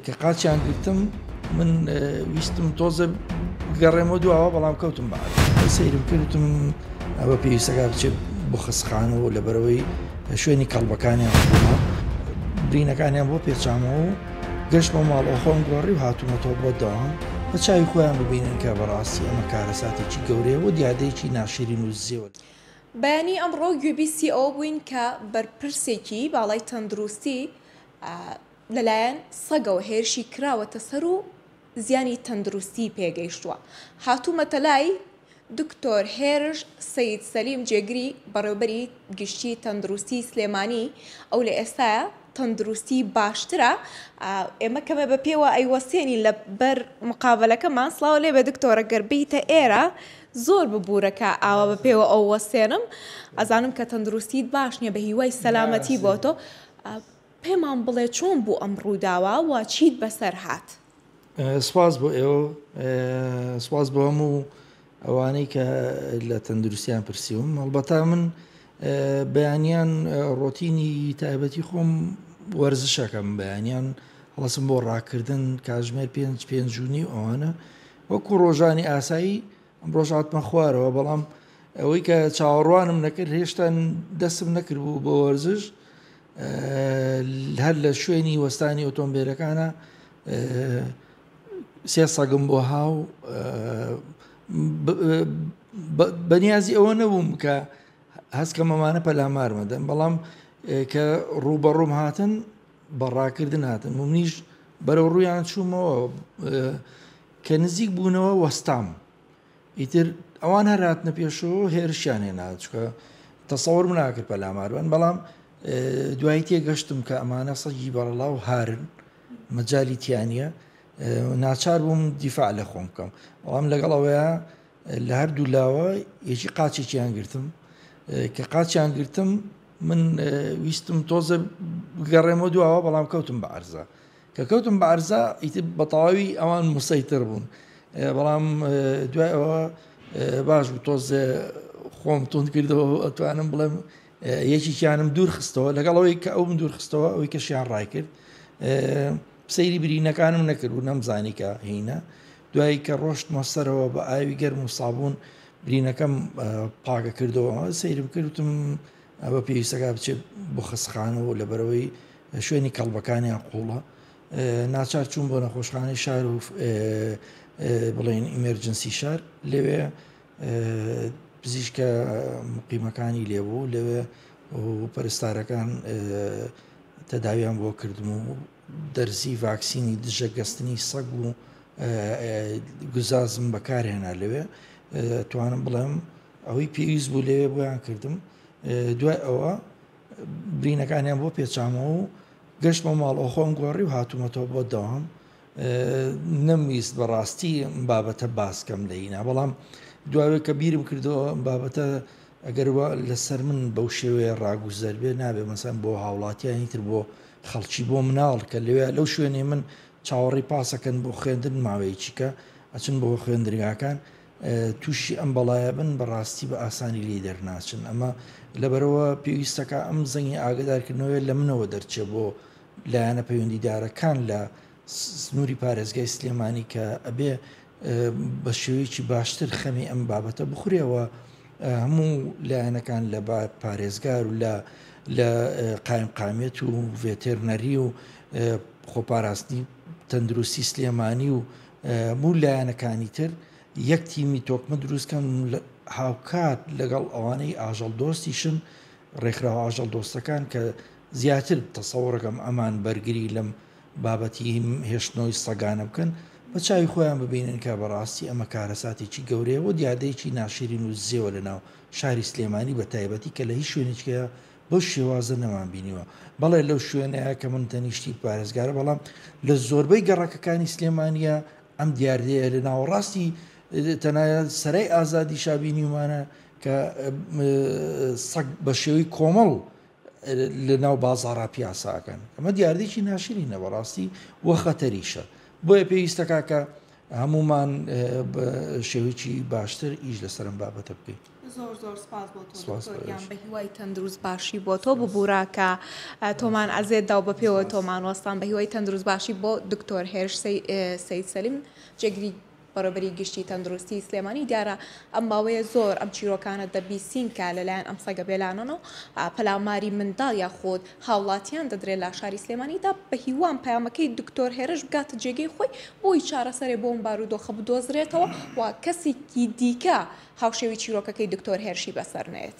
کە قاچیان گرتم من ویستم تۆزە گەڕێمە دواوە بەڵام کەوتم بە سەیرم کردم ئەوە پێویستەکە بچێت بۆ خەسخانەوە لە بەرەوەی شوێنی کەڵبەکانیان برینەکانیان بۆ پێچامەوە و گەشت بۆ ماڵەوە خۆم گۆڕی و هاتوومەتەوە بۆ داوام بە چاوی خۆیان ببینن کە بەڕاستی ئەمە کارەساتێکی گەورەیە و دیادەیەکی ناشرین و زیێوە. بەیانی ئەمڕۆ گوێبیستی ئەوە بووین کە بەرپرسێکی باڵای تەندروستی لەلایەن سەگەوە هێرشی کراوەتە سەر و زیانی تەندروستیی پێگەیشتووە، هاتوومەتە لای دکتۆر هێرش سەید سەلیم جێگری بەڕێوبەری گشتیی تەندروستیی سلێمانی، ئەو لە ئێستایا تەندروستیی باشترە، ئێمە کەمێ بە پێوە ئەیوەستێنین لە بەر مقابەلەکەمان، سڵاو لێبێ دکتۆر گەر بێیتە ئێرە زۆر ببورە کە ئاوا بە پێوە ئەو وەستێنم، ئەزانم کە تەندروستیت باش نییە، بە هیوای سەلامەتی بۆ تۆ. پێمان بڵێ چۆن بوو ئەم ڕووداوە و چیت بەسەر هات؟ سپاس بۆ ئێوە و سپاس بۆ هەموو ئەوانەی کە لە تەندروستیان پرسیوم هەڵبەتا من بەیانیان ڕۆتینی تایبەتی خۆم وەرزشەکەم بەیانیان هەڵسم بۆ ڕاکردن کاژمێر پێنج پێنجونی ئەوانە وەکو ڕۆژانی ئاسایی ئەمڕۆش هاتمە خوارەوە بەڵام ئەوەی کە چاوەڕوانم نەکرد هێشتا دەستم نەکردبوو بۆ وەرزش هەر لە شوێنی وەستانی ئۆتۆمبیلەکانە سێ سەگم بۆ هاو بەنیازی ئەوە نەبووم کە هەستکە مەمانە پەلامارمەدەن بەڵام کە ڕووبەڕووم هاتن بەڕاکردن هاتن منیش بەرەو ڕوویان چوومەوە کە نزیک بوونەوە وەستام ئیتر ئەوان هەر هاتنە پێشەوە هێرشیان هێنا چکە تەسەوەرم ناکرد پەلاماربن بەڵام دوایی تێگەشتم کە ئەمانە سەگی بەڕڵا و هارن مەجای تیانە ناچار بووم دیفاع لە خۆم بکەم بەڵام لەگەڵ ئەوەیە لە هەردوو لاوە یەکی قاچێکیان گرتم کە قاچیان گرتم من ویستم تۆزە گەڕێمە دواوە بەڵام کەوتم بە ئەرزە کە کەوتم بە عەرزا ئیتر بە تەواوی ئەوان موسەیتر بوون بەڵام دوای ئەوە باش بوو تۆزێ خۆم تون کردەوە ئەتوانم بڵێم یەکیکیانم دوور خستەوە لەگەڵ ئەوەی کە ئەوم دوور خستەوە ئەوی کەشیان ڕای کرد سەیری برینەکانم نەکرد و نەمزانی کە هینە دوایی کە ڕۆشت مەسەرەوە بە ئاوی گەرم و سابوون برینەکەم پاگە کردەوە سەیرم کردم ئەوە پێویستە کە بچێت بۆ خەستخانە و لەبەرەوەی شوێنی کەڵبەکانیان قوڵە ناچار چوون بۆ نەخۆشخانەی شار و بڵێن ئیمەرجنسی شار لەوێ پزیشکە مقیمەکانی لێبوو لەوێ پەرستارەکان تەداویان بۆ کردم و دەرزی ڤاکسینی دژە گەستنی سەگ و گوزازم بەکارهێنا لەوێ توانم بڵێم ئەوەی پێویست بوو لەوێ بۆیان کردم، دوای ئەوە برینەکانیان بۆ پێچامەوە و گەشتمە ماڵەوە خۆم گۆڕی و هاتوومەتەوە بۆ دەوام نەمویست بەڕاستی بابەتە باسکەم لەینا بەڵام دواوێ کە بیرم کردەوە بابەتە ئەگەر لەسەر من بەو شێوەیە ڕاگوزەر بێ نابێ مەسەن بۆ هاوڵاتیانی تر بۆ خەڵکی بۆ مناڵ کە لەوێ لەو شوێنێ من چاوەڕی پاسەکەن بۆ خوێندن ماوەیەکی کە ئەچن بۆ خوێندرگاکان توشی ئەم بەڵایە بن بەڕاستی بە ئاسانی لێی دەرناچن ئەمە لەبەرەوە پێویستەکە ئەم زەنگی ئاگدارکردنەوەی لە منەوە دەرچێ بۆ لایەنە پەیوەندیدارەکان لە سنووری پارێزگای سلێمانی کە ئەبێ بە شێوەیەکی باشتر خەمی ئەم بابەتە بخورێەوە هەموو لایەنەکان لە پارێزگار و لە لە قایم قامیت و ڤێتێرنەری و خۆپاراستنی تەندروستی سلێمانی و هەموو لایەنەکانی تر یەک تیمی تۆکمە دروستکەن هاوکات لەگەڵ ئەوانەی ئاژەڵ دۆستیشن ڕێکخراوە ئاژەڵ دۆستەکان کە زیاتر تەسەوڕەکەم ئەمان بەرگری لەم بابەتی هێشتنەوەی سەگانە بکەن بە چاوی خۆیان ببینن کە بەڕاستی ئەمە کارەساتێکی گەورەیە و دیادەیەکی ناشرین و زێوە لە ناو شاری سلێمانی بە تایبەتی کە لە هیچ شوێنێکەیە بەو شێوازە نەمان بینیوە. بەڵێ لەو شوێنەیە کە من تەنیشتی پارێزگارە بەڵام لە زۆربەی گەڕەکەکانی سلێمانیە ئەم دیاردەیە لە ناوەڕاستی تەنایە سەرای ئازادی شابینیمانە کە سەگ بە شێوەی کۆمەڵ لە ناو بازارا پیاساکەن ئەمە دیاردێکی ناشرین نە بەڕاستی وە خەتەریشە بۆیە پێویستە کاکە هەمومان شێوەیەکی باشتر ئیش لەسەرم بابەتە بکەین زۆر زۆر سپاس بۆ تۆ سپاس دکتۆر گیان بەرێز. بە هیوای تەندروست باشی بۆ تۆ ببورە کە اه، تۆمان ئەزێت دا و بە پێوە سپاس. تۆمان وەستان بە هیوای تەندروست باشی بۆ دکتۆر هێرش سەی- اه، سەید سەلیم جێگری بەڕێوبەری گشتی تەندروستی سلێمانی دیارە ئەم ماوەیە زۆر ئەم چیرۆکانە دەبیسین کە لە لایەن ئەم سەگە بێلانەنە و اه، پەلاماری منداڵ یاخود هاوڵاتیان دەدرێ لە شاری سلێمانی دا بە هیوام پەیامەکەی دکتۆر هێرش بگاتە جێگەی خۆی بۆی چارەسەرێ بۆ ئەم بارودۆخە بدۆزرێتەوە و کەسیکی دیکە هاوشێوی چیرۆکەکەی دکتۆر هێرشی بەسەر نەیەت.